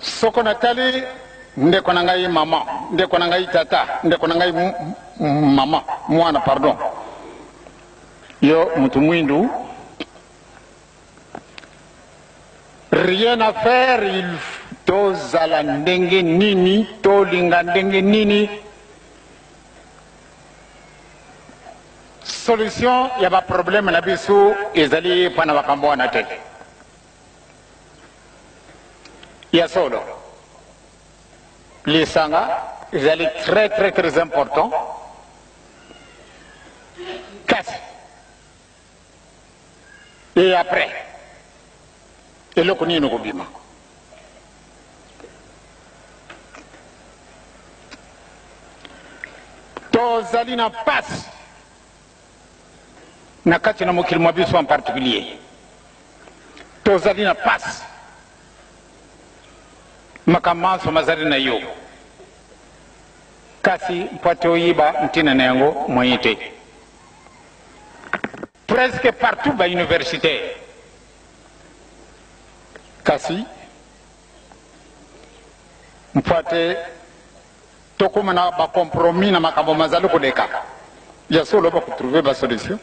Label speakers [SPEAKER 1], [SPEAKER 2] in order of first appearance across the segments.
[SPEAKER 1] Soko natali ndeko na ngai mama, ndeko na ngai tata, ndeko na ngai mama, mwana, pardon, yo mutu mwindu, rien à faire, il tozala ndenge nini, tolinga ndenge nini, solution ya ba problème na biso ezali epa na makambo wana te. Ya solo, lisanga ezali très très très important, kasi et après eloko nini kobima? tozali na mpasi na kati na mokili mwa biso en particulier tozali na pasi makambo manso mazali na yo kasi mpo ete oyiba ntina na yango moyen te presque partout ba universitaire kasi mpo ete Tokoma na ba compromis na makambo mazali koleka. Ya solo bako trouver ba solution.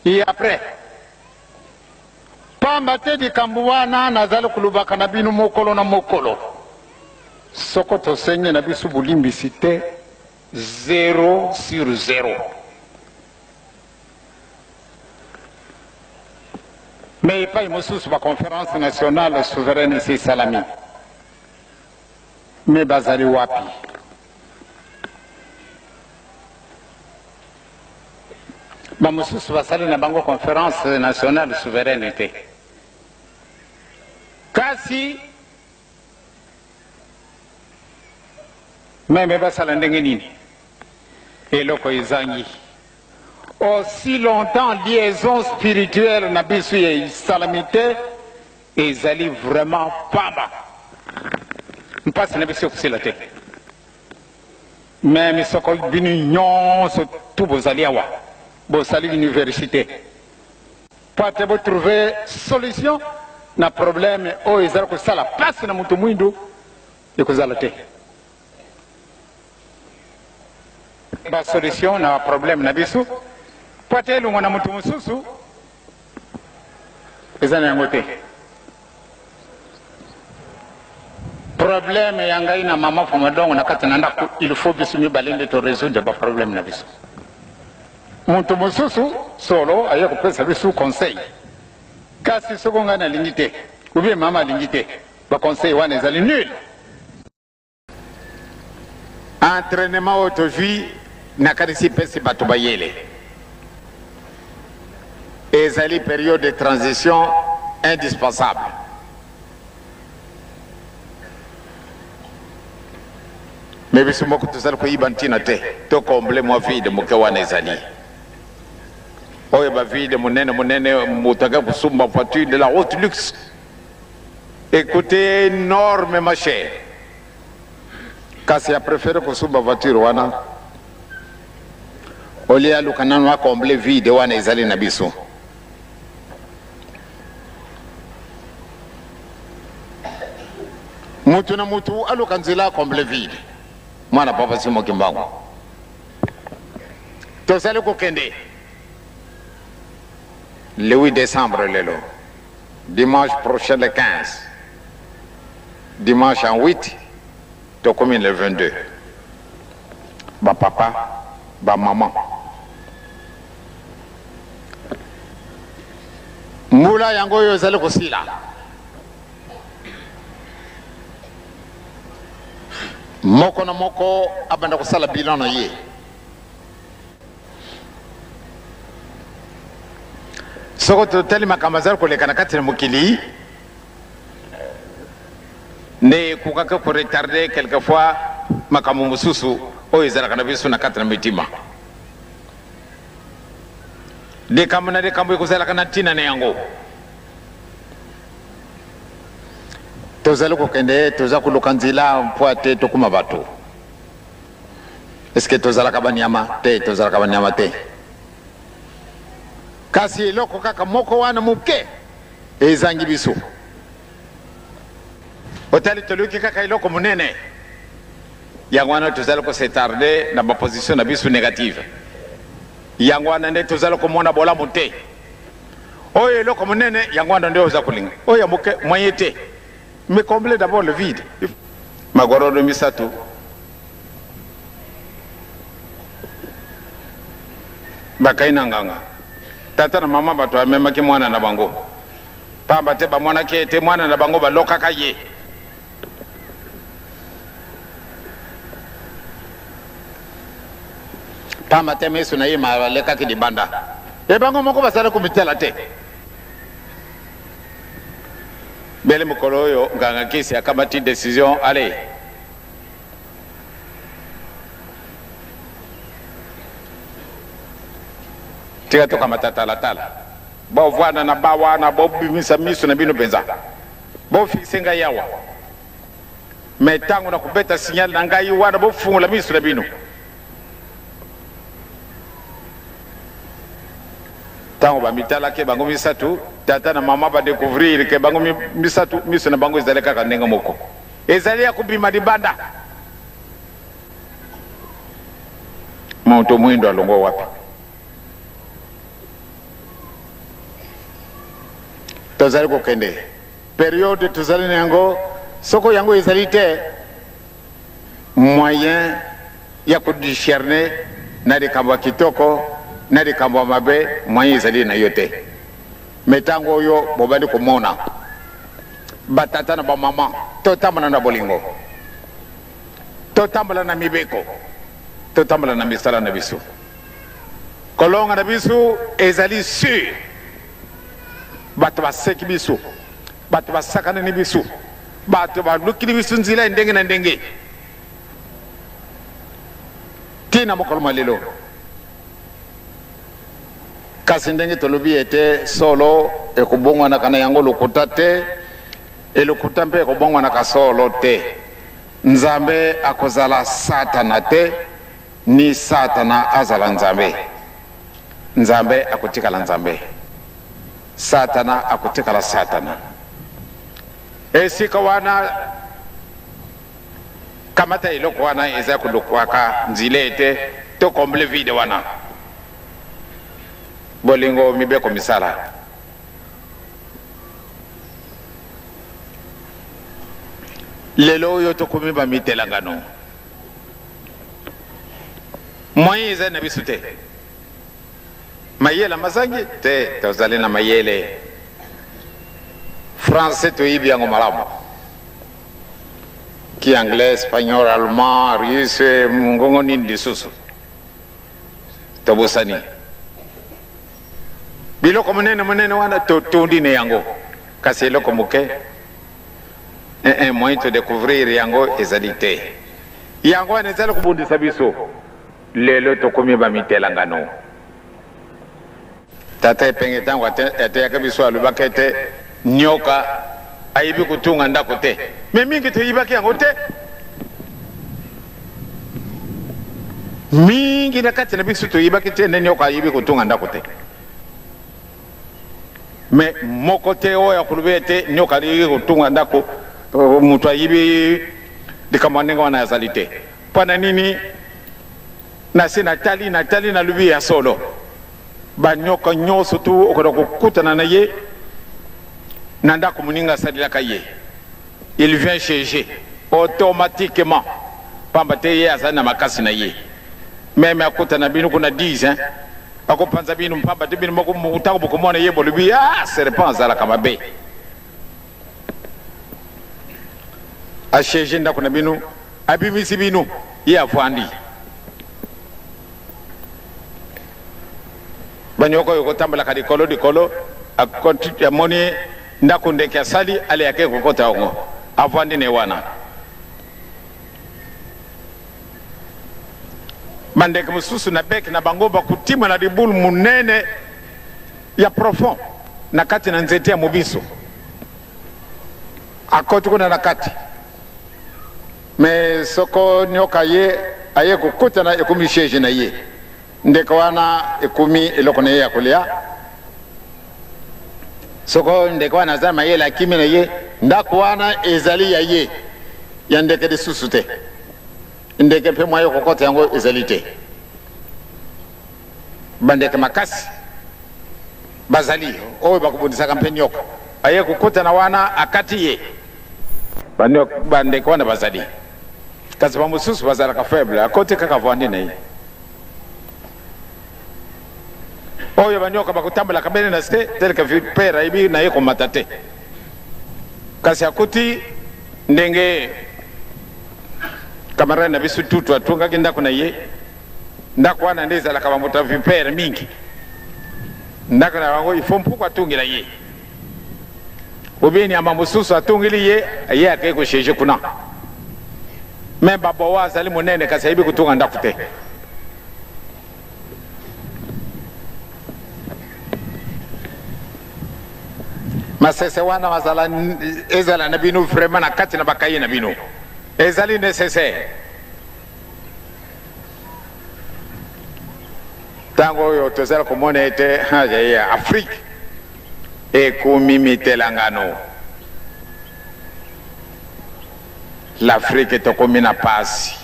[SPEAKER 1] Et après pamba te likambo wana nazali kolobaka na bino mokolo na mokolo. Soko tosengi na biso bolimbisi te, zero sur zero. Mais epai mosusu ba conference nationale souveraine esi esalami. Mais bazali wapi? Bamosusu basali na bango conference nationale souveraine te. Kasi meme basala ndenge nini? Eloko ezangi. Aussi longtemps liaison spirituelle na biso esalami te Ezali vraiment pamba. Mpasi na biso ekosila te. Mais misoko bino nyonso tu bozali awa bosali université mpo ate botrouve solution na problème oyo ezali kosala mpasi na moto mwindu ekozala te. ba solution na problème na biso mpo ata elongo na moto mosusu eza na yango te problème ya ngai na mama fomadongo na kati na ndako il faut biso mibale nde toresoudre baproblème na biso moto mosusu solo aye kopesa biso conseil kasi soko ngai nalingi te ubie mama alingi te baconseil wana ezali nul Entrainement oyo tozwi nakanisi epesi bato mayele. Ezali periode de transition indispensable. Mais biso moko tozali koyiba ntina te to combler mwa vide moke wana ezali oyo bavide monene monene moto ake kosumba voiture de la haute luxe Ecoute enorme ma chere kasi a prefere kosumba voiture wana olie aluka nanu a comble vide wana ezali na biso mutu na mutu aluka nzela a comble vide mwana papa simo kimbangu tozali kokende le 8 décembre lelo Dimanche prochain le 15 dimanche en 8 tokomi le 22 ba papa ba maman mbula yango oyo ezali kosila moko na moko abanda kosala bilan na ye soko totali makambo azali koleka na kati na mokili nde ekokaki koretarde quelquefois makambo mosusu oyo ezalaka na biso na kati na mitima likambo na likambo ekozalaka na ntina na yango tozali kokende toza koluka nzila mpo ate tokuma bato eske tozalaka banyama te tozalaka banyama te kasi eloko kaka moko wana moke ezangi biso otali toluki kaka eloko monene yango wana tozali kosetarde na baposition na biso negative yango wana nde tozali komona bolamu te oyo eloko monene yango wana nde oza kolinga oyo ya moke moye te Mais combler d'abord le vide. Magorodo misato. Bakai na nganga. Tata na mama bato amemaki mwana na bango. Pamba te bamonaki ete mwana na bango balokaka ye. Pamba te miso na ye malekaki libanda. Ebango moko basala komitela te. Bele mokolo oyo nganga nkisi akamati decision ale tika tokamata talatala bovanda na ba wana bobimisa miso na bino mpenza bofixe ngai awa me ntango na kobeta signal na ngai wana bofungola miso na bino Ntango bamitalaki bango misato, tata na mama badekovrire ke bango misato miso na bango ezali kaka ndenge moko, ezali ya kobima libanda. Moto mwindo alongwa wapi? Tozali kokende periode tozali na yango, soko yango ezali te moyen ya ko discerner na likambo ya kitoko na likambo ya mabe moyen ezali na yo te me ntango oyo bobandi komona batata na bamama totambola na bolingo totambola na mibeko totambola na misala na biso kolonga na biso ezali sur bato baseki biso Bato basakana ni bisu, bato balukili bisu nzila ya ndenge na ndenge ti na mokolo mwa lelo. Kasi ndenge tolobi ete solo ekobongwanaka na yango lokuta te, e lokuta mpe ekobongwanaka solo te. Nzambe akozala Satana te, ni Satana azala Nzambe. Nzambe akotikala Nzambe. Satana akotikala Satana. Esika wana kamata eloko wana eza kolukwaka nzila ete to komble vide wana bolingo mibeko misala lelo oyo tokomi bamitelangano moyen eza na biso te Mayele mazangi te, tozali na mayele. Français toyebi yango malamu, ki anglais, espagnol, allemand, russe, mongongo nini lisusu tobosani. Biloko monene monene wana totondi na yango, kasi eloko moke eh, eh, moyen to découvrir yango ezali te. Yango wana ezali kobundisa biso. Lelo tokomi ba mitelangano. Tata Epenge tango ateyaka biso alobaka ete nioka ayebi kotunga ndako te. Mais mingi toyibaki yango te. Mingi na kati na biso toyibaki te nde nioka ayebi kotunga ndako te. Mais moko te oyo akolobi ete nioka ayebi kotunga ndako moto ayebi likambo ya ndenge wana azali te. Mpo na nini nase natali natali nalobi ya solo banyoka nyonso tu okoda kokutana na ye na ndako moninga asalelaka ye il vient chez je automatiquement pamba te ye azali na makasi na ye meme akutana bino kuna 10 hein akopanza bino mpamba te bino moko ntango bokomona ye bolobi ah serpent azalaka mabe asiege ndako na bino abimisi bino ye afandi banyoko oyo kotambolaka likolo likolo amoni ndako ndeke asali aleyake kokota yango afandi ne wana bandeke mosusu na beke na bango bakotima na libulu monene ya profond na kati na nzete ya mobiso akoti kuna na kati me soko nioka ye aye kokutana ekomi siege na ye ndeko wana ekomi eloko na ye ya kolia soko ndeko wana aza mayele akimi na ye ndako wana ezali ya ye ya ndeke lisusu te ndeke mpe mwa ye kokota yango ezali te Bandeke makasi bazali oyo bakobundisaka mpe nyoka. Aye kokutana wana, akati ye. Bandeke wana bazali, kasi bamosusu bazalaka faible, akoti kaka vandi na ye. oyo banyoka bakotambolaka bene na se teleke vipere ayebi na ye komata te kasi akuti ndenge kamarade na biso tutu atongaki ndako na ye Ndako wana nde ezalaka ba moto ya vipere mingi. Ndako na bango il faut mpuku atungela ye. Obi nyama mosusu atungeli ye, ye akei kosheje kuna. Me baboa azali monene kasi ayebi kotunga ndako te. masese wana mazala ezala na bino vraiment na kati na bakaye na bino ezali necessaire ntango oyo tozali komona ete afrike ekomi mitelangano l'afrike tokomi na pasi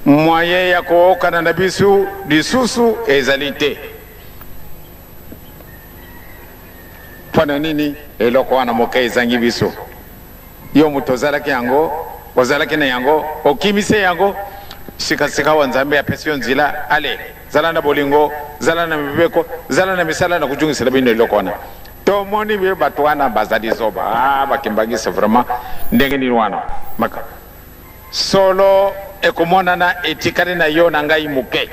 [SPEAKER 1] moyen ya kookana na biso lisusu ezali te mpo na nini eloko wana moke ezangi biso Yo moto ozalaki yango, ozalaki na yango, okimi se yango, sika-sikawa Nzambe apesi yo nzila, ale, zala na bolingo, zala na mibeko, zala na misala na kojungisela bino eloko wana. Tomoni be bato wana bazali zoba, ah, bakimbangisa vraiment, ndenge nini wana maka solo ekomonana etikali na yo na ngai moke,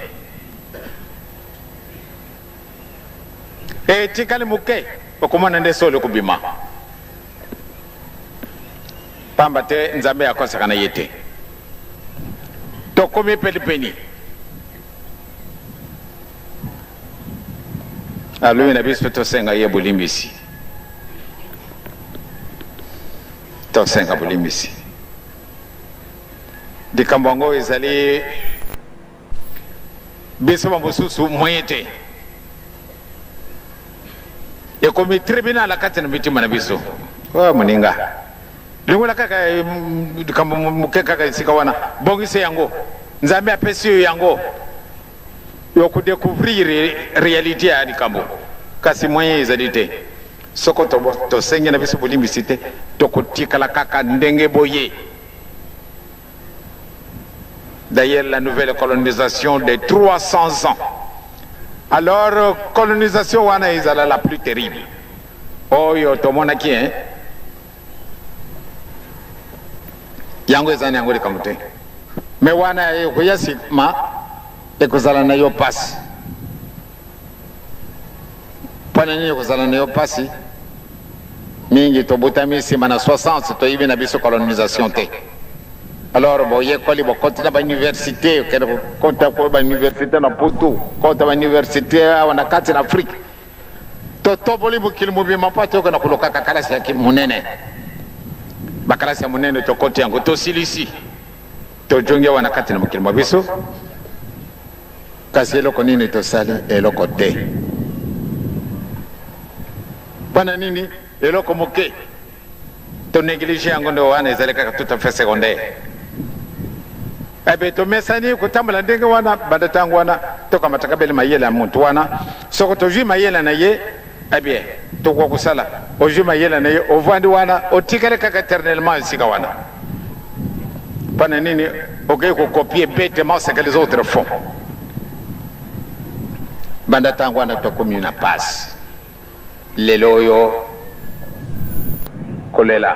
[SPEAKER 1] etikali moke, okomona nde solo ekobima. Pamba te Nzambe akosaka na ye te. Tokomi penipeni. Alobi na biso tosenga ye bolimbisi. Tosenga bolimbisi. Likambo yango ezali biso bamosusu moyen te ekomi tribunal kati na mitima na biso oyo moninga longola kaka eh, likambo moke kaka esika wana bongisa yango nzambe apesi yo yango yokodecouvrir réalité ya likambo kasi moyen ezali te soko tosengi na biso bolimbisi te tokotikala kaka ndenge boye D'ailleurs, la nouvelle colonisation des 300 ans. Alors, colonisation wana ezala la plus terrible. Oyo tomonaki hein. Yango ezani yango likambo te. Mais wana ekoya sima ekozala na yo pasi. mpo na nini kozala na yo mpasi mingi tobotami nsima na 60 toyebi na biso colonisation te alors boyekoli bokoti na bauniversité okende kokota ko bauniversité na poto kota bauniversité awa na kati na afrike totoboli mokili mobima mpo toyoka na kolokaka kalasi ya monene bakalasi ya monene tokoti yango tosilisi tojongi awa na kati na mokili mwa biso Kasi eloko nini tosali? Eloko te. Mpo na nini? Eloko moke to neglige yango, nde wana ezali kaka tout à fait secondaire. Ebe eh tomesani kotambola ndenge wana banda ntango wana tokamataka bele mayele ya moto wana, soko tozwi mayele na ye Eh bien, tokoa kosala ozwi mayele na ye ovandi wana otikali kaka eternellement esika wana mpona nini okei kokopie betement ce que les autres font banda ntango wana tokomi na pasi lelo oyo kolela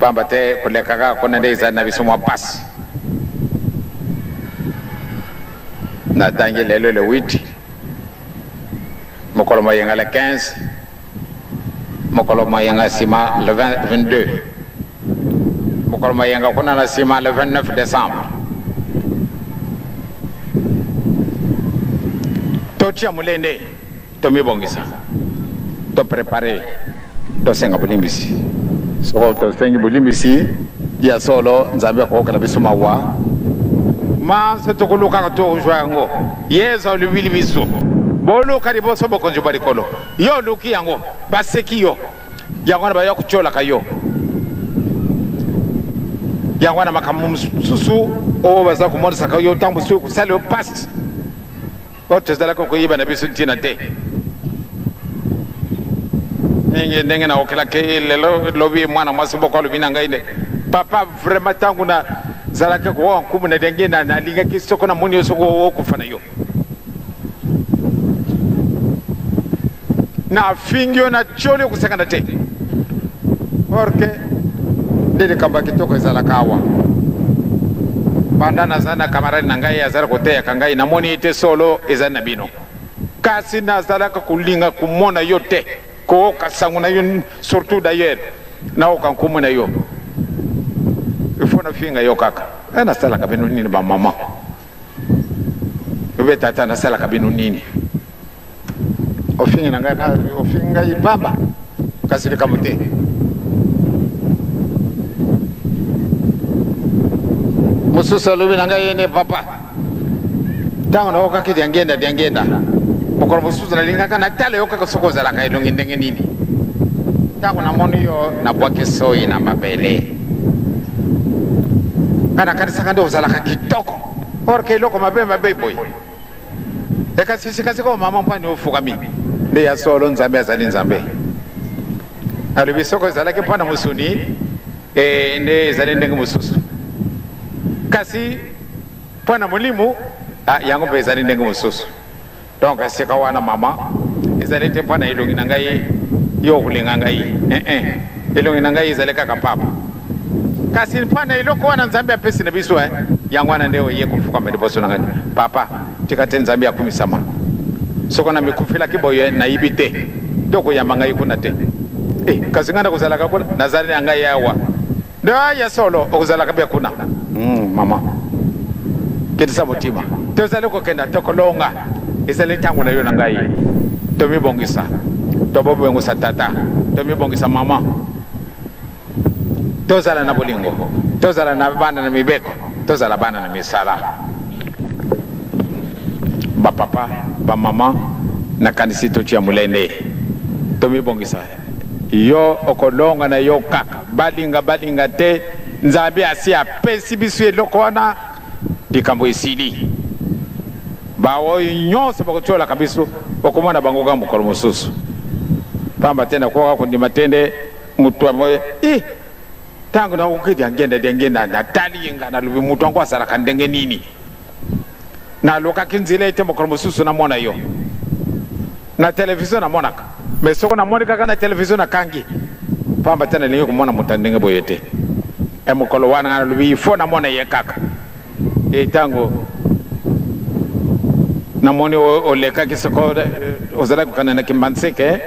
[SPEAKER 1] Pamba te koleka kaka kuna nde ezali na biso mwa pasi. Natangi lelo le 8 mokolo moyenga le 15 mokolo moyenga nsima le 22 mokolo moyenga kuna na nsima le 29 décembre totia molende tomibongisa toprepare tosenga bolimbisi soko tosengi bolimbisi ya solo nzambe akokokela biso mawa manso tokolukaka tozwa yango yezu alobili biso boluka liboso bokonzi bwa likolo yo oluki yango baseki yo yango wana baya kotyolaka yo yango wana makambo mosusu oyo baza komonisaka yo ntango mosusu ekosala yo mpasi po tozalaka koyeba na biso ntina te ndenge ndenge naokelaki eh, lelo lobi mwana mwasi boko alobi na ngai nde papa vraiment ntango nazalaki kowa nkumu na ndenge nalingaki soko namoni yo soko okufa na yo Na fingi yo na tioli okosakana te. Orke nde likambo ya kitoko ezalaka awa. Banda naza na kamarade na ngai azali koteyaka ngai namoni ete solo ezali na bino. Kasi nazalaka kolinga komona yo te. Kooka sango na yo surtout d'ailleurs naoka nkumu na yo. Ifo na finga yo kaka. Eh, nasalaka bino nini ba maman? obe tata nasalaka bino nini ofingi na ngai ofingi ngai pamba kasi likambo te mosusu alobi na ngai yene papa ntango naokaki diangenda diangenda mokolo mosusu nalingaka natala yo kaka soki ozalaka elongi ndenge nini ntango namoni yo nabwaki soyi na mabele nga nakanisaka nde ozalaka kitoko orke eloko mabe mabe boye ekasi sikasikoyo mama mpani ofukami nde ya solo nzambe azali nzambe alobi soko ezalaki mpo na mosuni e, nde ezali ndenge mosusu kasi mpo na molimo ah, yango mpe ezali ndenge mosusu Donc esika wana maman ezali te mpo na elongi na ngai yo okolinga ngai eh eh elongi na ngai ezali kaka papa kasi mpo na eloko wana nzambe apesi na biso eh yango wana nde oye kofukama liboso na ngai papa tika te nzambe akumisama soko namikufelaki boye nayibi te to koyamba ngai kuna te eh, kasi ngai nakozalaka kuna nazali na ngai awa Ndoa ya solo okozalaka bia kuna mm, mama kitisa motima tozali kokenda tokolonga ezali ntango na yo na ngai tomibongisa tobobongisa tata tomibongisa mama tozala na bolingo tozala na bana na mibeko tozala bana na misala bapapa bamama nakanisi totya molende tomibongisa Yo okolonga na yo kaka balinga balinga te nzambe asi apesi biso eloko wana likambo esili baoyo nyonso bakotiolaka biso okomona bango kaka mokolo mosusu pamba te nakoka kondima te nde moto yango i ntango nakoki diangenda diangenda natali ye ngai nalobi moto yango azalaka ndenge nini Nalukaki nzela ete mokolo mosusu namona yo na televizio. Namonaka me soko namoni kaka na televizio nakangi, mpamba te nalingi komona moto ya ndenge boye te. E mokolo wana nga nalobi ifo namona ye kaka. E ntango namoni olekaki soko ozalaki kokana na kimbanseke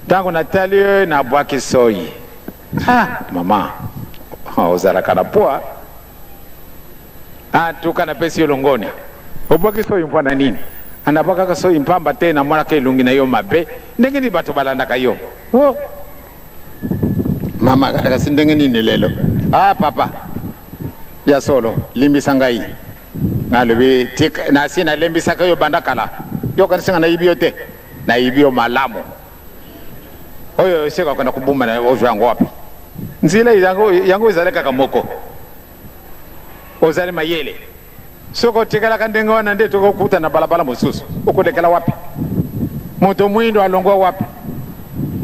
[SPEAKER 1] ntango natali yo nabwaki soyi ah mama ozalaka na poa antuka napesi yo longonya obwaki soyi mpo na nini anabwakaka soyi mpamba te namonaka elongi na yo mabe ndenge nini bato balandaka yo oh. mama kasi ndenge nini lelo ah papa ya solo limbisa ngai nalobi nasi nalembisaka yo banda kala yokanisi nga nayibi yo te nayibi yo malamu oyo esika okenda kobomba na ozwa yango wapi nzela yango yango ezali kaka moko ozali mayele soki otikalaka ndenge wana nde tokokuta na balabala mosusu okolekela wapi moto mwindo alongwa wapi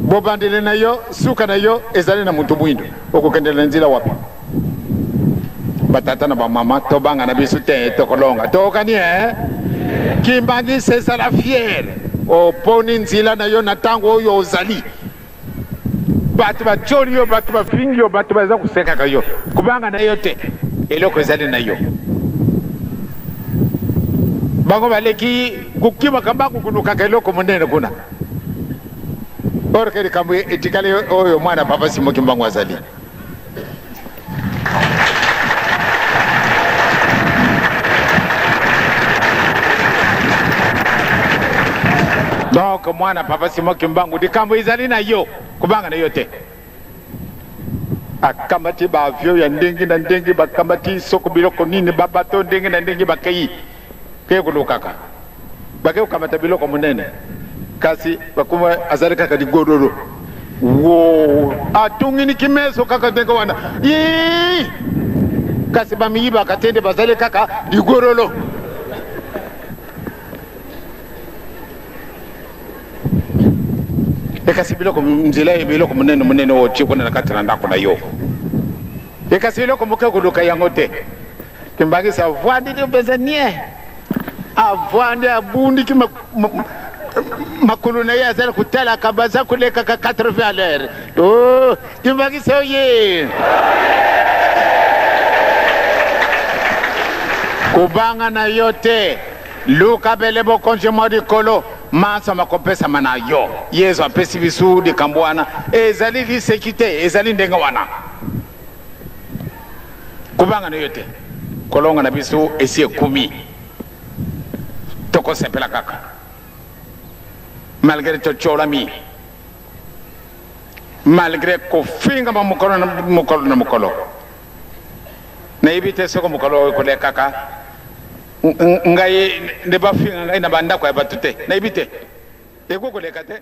[SPEAKER 1] bobandeli na yo suka na yo ezali na moto mwindo okokendela nzela wapi batata na bamama tobanga na biso te tokolonga tookani e kimbangisa ezala fiere oponi nzela na yo na ntango oyo ozali bato batyoli yo bato bafingi yo bato baza kosekaka yo kobanga na yo te eloko ezali na yo bango baleki kokimaka mbangu kolukaka eloko monene kuna orke likambo etikali oyo mwana papa simoki mbangu azali donc mwana papa simo kimbangu likambo ezali na yo kobanga na yo te akamati baavio ya ndenge na ndenge bakamati soko biloko nini babato ndenge na ndenge bakei Kei kolukaka. Bakei kokamata biloko monene. Kasi bakuma azali kaka ligololo. Woo! Atungini kimeso kaka ndenge wana. Ii! Kasi bamiyibaka te nde bazali kaka ligololo. ekasi biloko nzela ye biloko monene monene otie kuna na kati na ndako na yo ekasi eloko moke koluka yango te Kimbangisi avwandi te mpenza nie avwandi abundiki makulu na ye azali kotalaka baza kolekaka 80 à l'heure o oh, kimbangisi oye kobanga na yo te luka bele bokonzi mwa likolo manso makopesama na yo yesu apesi bisu likambo wana ezali liseki te ezali ndenge wana kobanga na yo te kolonga na biso esi ekomi tokosepela kaka malgre tocolami malgre kofingama mokolo na mokolo na mokolo nayebi te soko mokolo oyo ekolekaka ngai nde bafinga ngai na bandako ya bato te nayebi te ekoki koleka te